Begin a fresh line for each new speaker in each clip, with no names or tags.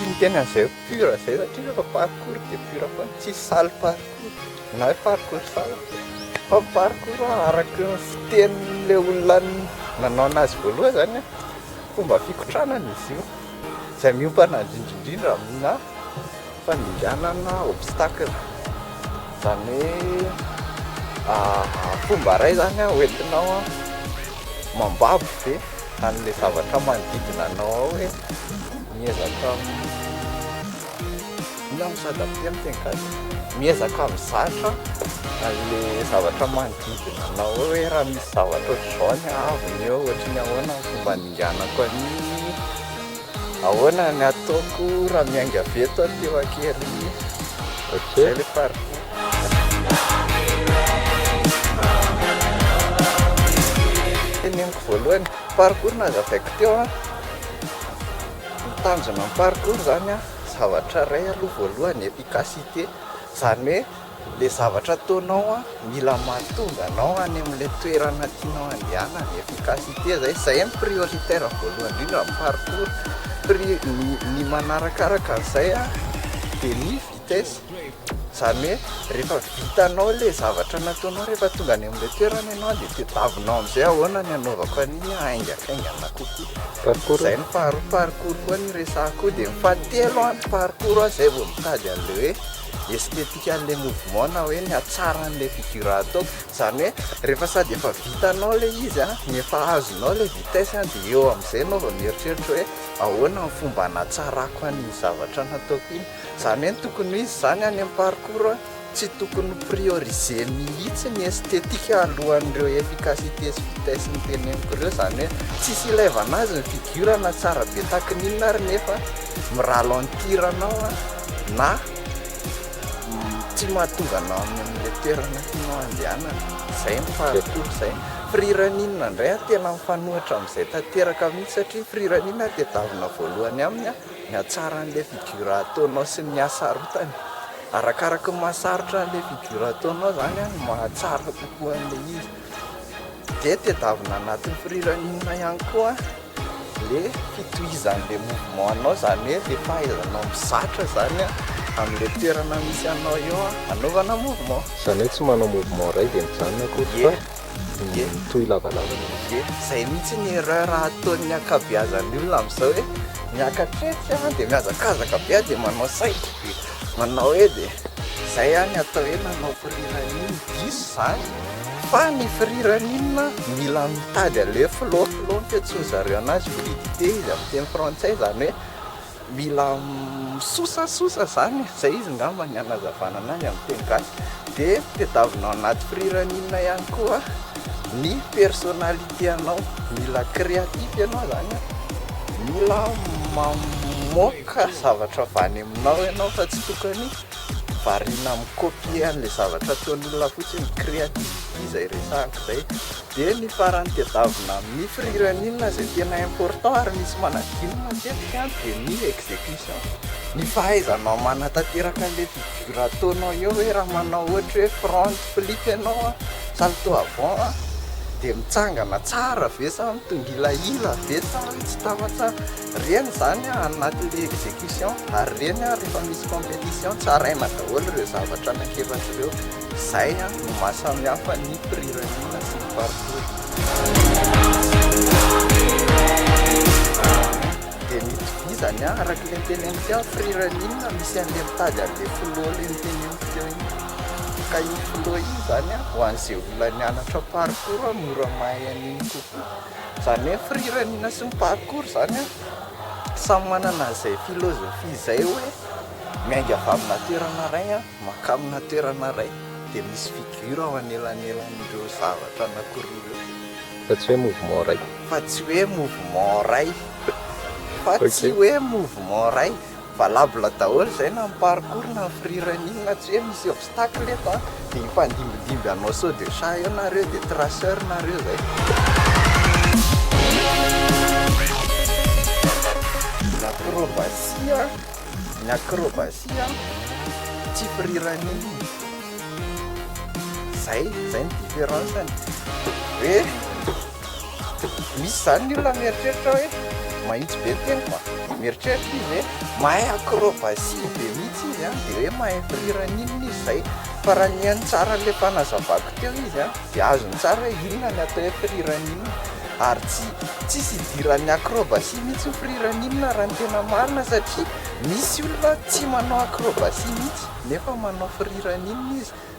Ny tena zay pur zay satria refa parcours de pur foana tsisy salle parcours na hoe parcours salle fa ny parcours araky ny fitenin'le olona nanao anazy voalohany zany an, fomba fikotranana izy io zay miompana indrindra indrindra amina fandringanana obstacle zany hoe fomba ray zany an hoentinao Mambabo ve an'ilay zavatra manodidina anao ao e? Miezaka inona no sady ampia amin'ny teny gasy? Miezaka mizatra an'ilay zavatra manodidina anao ao hoe raha misy zavatra ohatr'izao ny haavon'eo ohatry ny ahoana ny fomba ninganako an'iny. Ahoana ny ataoko raha miainga avy eto aho teo an-keriny? Zay le parcours. Teneniko voalohany, parcours nazavaiko teo an, ny tanjona amin'ny parcours zany an, zavatra iray aloha voalohany efficacité, zany hoe. Ilay zavatra ataonao an, mila mahatonga anao any amin'ilay toerana tianao handehanana, efficacité izay, izay no prioritaire voalohany indrindra ny parcours, pri, ny ny manarakaraka an'izay an dia ny vitesse, izany hoe rehefa vitanao ilay zavatra nataonao rehefa tonga any amin'ilay toerana ianao dia tadiavinao amin'izay ahoana ny hanaovako an'iny haingankaingana kokoa, izay no faharoa, parcours koa no resahako koa, dia ny fahatelo an, ny parcours an izay vao mitady an'ilay hoe. esthétique an'ilay mouvement na hoe ny hatsaran'ilay figure ataoko, izany hoe rehefa sady efa vitanao ilay izy an, ny efa azonao ilay vitesse an, dia eo amin'izay ianao vao mieritreritra hoe ahoana ny fomba hanatsarako an'iny zavatra nataoko iny, izany hoe ny tokony ho izy izany any amin'ny parcours an, tsy tokony ho prioriser mihitsy ny esthétique alohan'ireo efficacité sy vitesse noteneniko ireo, izany hoe tsisy ilaivana azy ny figure na tsara be tahaka ny inona ary nefa mi-ralentir anao an. Na tsy mahatonga anao any amin'ilay toerana tianao handehanana. Izay no faharoa, izay. Firiran'inona indray aho tena mifanohitra amin'izay tanteraka mihitsy satria firiran'inona aho tadiavina voalohany aminy ny hatsara an'ilay figure ataonao sy ny hasarotany. Arakaraka ny maha sarotra an'ilay figure ataonao izany no mahatsara kokoa an'ilay izy. dia tedavina anatin'ny firiran'inona ihany koa le fitohizan'le mouvement anao zany hoe le fahaizanao mizatra zany amle toerana misy anao eo anaovana mouvement zany hoe tsy manao
mouvement iray dia mijanona akory fa mitohy lavalava mihitsy ye zay mihitsy
ny erreur ataon'ny ankabeazan'ny olona amizao hoe miakatra etsy dia mihazakazaka be dia manao saidy Manao edy e! Zay ihany atao hoe manao firiran'iny diso zany fa ny firiran'inona mila mitady anle flow flow ny fiantsoan'izy zareo anazy fluidité izy amin'ny teny frantsay zany hoe mila misosasosa zany e! zay izy ngamba ny anazavana anazy amin'ny teny gasy de tedavina ao anaty firiran'inona ihany koa ny personnalité anao mila créatif ianao zany hoe mila mamoaka Ka zavatra avy any aminao ianao fa tsy tokony variana mi-copier an'ilay zavatra ataon'olona fotsiny, créativity izay resahako izay. Dia ny farany tadiavina amin'ny firiran'inona izay tena important ary misy manadino matetika dia ny execution, ny fahaizanao manatanteraka an'ilay figure ataonao eo hoe raha manao ohatra hoe front flip ianao, salto avant dia mitsangana tsara ve sa mitongilahila ve sa tsy tava tsara. Reny izany ao anatin'ny execution ary reny ary rehefa misy competition tsaraina daholo ireo zavatra anankiefatra ireo. Izay no maha samihafa ny mprirariana sy ny mpanompony. Dia ny itovizany araka ilay teneniko teo ny mprirariana misy an'ilay mitady an'ilay filoha ilay noteneniko teo iny. Ka iny filoha iny izany ho an'izay olona nianatra parcours mora mahay an'iny kokoa. Zany hoe firiraniana sy ny parcours zany an, samy manana izay philosophie izay hoe miainga avy amina toerana iray an, mankany amina toerana iray dia misy figure ao anelanelan'ireo zavatra anankiroa ireo. Fa tsy hoe
mouvement iray. Fa tsy hoe
mouvement iray. Fa tsy hoe mouvement iray. Valable daholo izay na ny parcours na ny free running na tsy hoe misy obstacle eto an, dia hifandimbindimby hanao saut de chat eo nareo dia traceur nareo izay. Ny acrobatie, ny acrobatie an tsy free running izay, izay ny difference-ny hoe. Misy izany ny olona mieritreritra hoe mahitsy be ny teniko a! Mieritreritra izy hoe mahay acrobatie be mihitsy izy an, dia hoe mahay mpihira an'inona izy izay, fa raha nihaino tsara an'ilay mpanazavako teo izy an, dia azony tsara hoe inona ny atao hoe mpihira an'inona, ary tsy tsisy idiran'ny acrobatie mihitsy ny mpihira an'inona raha ny tena marina satria misy olona tsy manao acrobatie mihitsy nefa manao mpihira an'inona izy,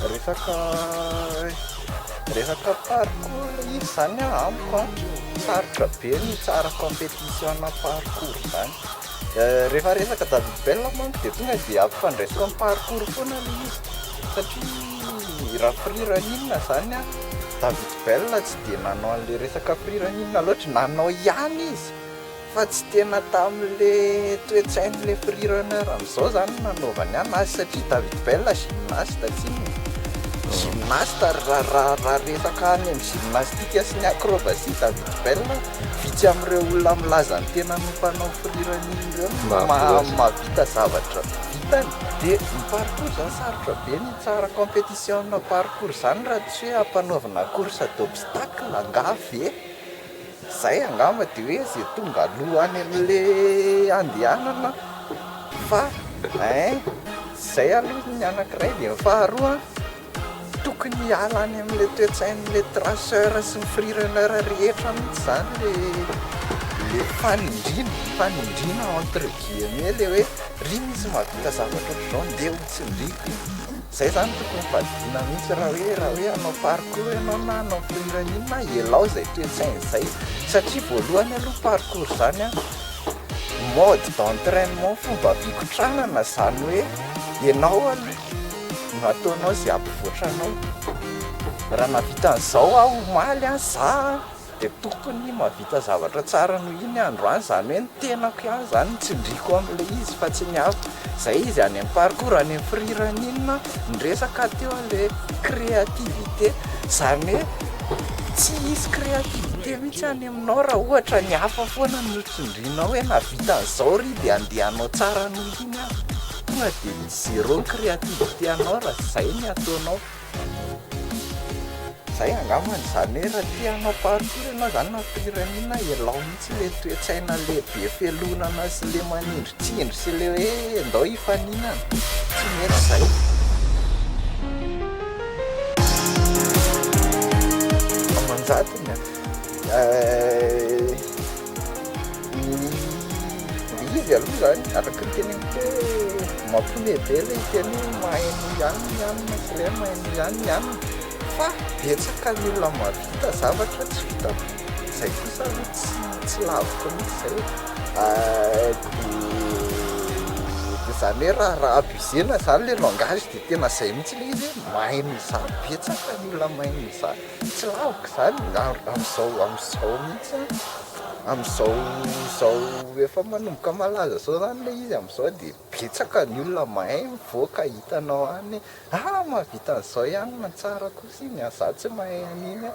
Resaka resaka parcours iny zany a amiko a sarotra be ny hitsara competition parcours zany rehefa resaka David Bell manko dia tonga dia ampifandraisiko amin'ny parcours foana le izy satria raha free running zany a David Bell tsy dia nanao an'le resaka free running loatra, nanao ihany izy Fa tsy tena tamin'le toetsain'le free runner amzao zany nanaovany an azy satria David Bell gymnaste tsinona gymnaste ary ra ra ra resaka any am gymnastique sy ny acrobatie David Bell vitsy amreo olona milaza ny tenany ho mpanao free running reo no ma mahavita zavatra vitany de ny parcours zany sarotra be ny hitsara competition parcours zany ra tsy hoe ampanaovina course d'obstacle angaha ve? Zay angamba de hoe ze tonga aloha any amle andehanana fa ein zay aloha ny anakiray de ny faharoa tokony hiala any amle toetsainle traceur sy ny free runner rehetra mitsy zany le le fanindriana fanindriana entre guillemets le hoe ry misy mahavita zavatra otrzao ndeo tsindriko. Zay zany tokony fadiana mihitsy raha hoe raha hoe hanao parcours ianao na hanao film na inona ialao izay toe-tsaina izay satria voalohany aloha parcours zany a mode d'entrainement fomba fikotranana zany hoe ianao aloha no ataonao izay hampivoatra anao raha nahavita an'izao aho omaly a za a dia tokony mahavita zavatra tsara noho iny andro any, izany hoe ny tenako ihany izany no tsindriako amin'ilay izy fa tsy ny hafa, izay izy any amin'ny parcours any amin'ny firirany iny no niresaka teo ilay créativité, izany hoe tsy hisy créativité mihintsy any aminao raha ohatra ny hafa foana no tsindrinao hoe nahavita an'izao ry dia andeha hanao tsara noho iny aho, tonga dia misy zéro ny créativité anao raha izay ny ataonao. Zay angamba ny zany hoe raha tia hanao parcours ianao zany na pyramide ialao mihitsy le toetsaina le be fialonana sy le manindratsindry sy le hoe ndao hifaninana tsy mety zay. Amanjatony a. ny izy aloha izany araka ny teneniko hoe mampihomehy be ilay teny hoe mahay noho ihany ny hanina sy ilay hoe mahay noho ihany ny hanina fa betsaka ny olona mahavita zavatra tsy vitako, izay kosa aloha tsy tsy laviko mihintsy izay e, dia izany hoe raha raha abusena izany ilay langage dia tena izay mihintsy ilay izy hoe mahay noho izaho, betsaka ny olona mahay noho izaho. Tsy laviko izany amin'izao amin'izao mihitsy an, amin'izao izao efa manomboka malaza izao izany ilay izy amin'izao dia betsaka ny olona mahay mivoaka hitanao any hoe ah mahavita an'izao ihany no tsara kosa iny an, za tsy mahay an'iny an.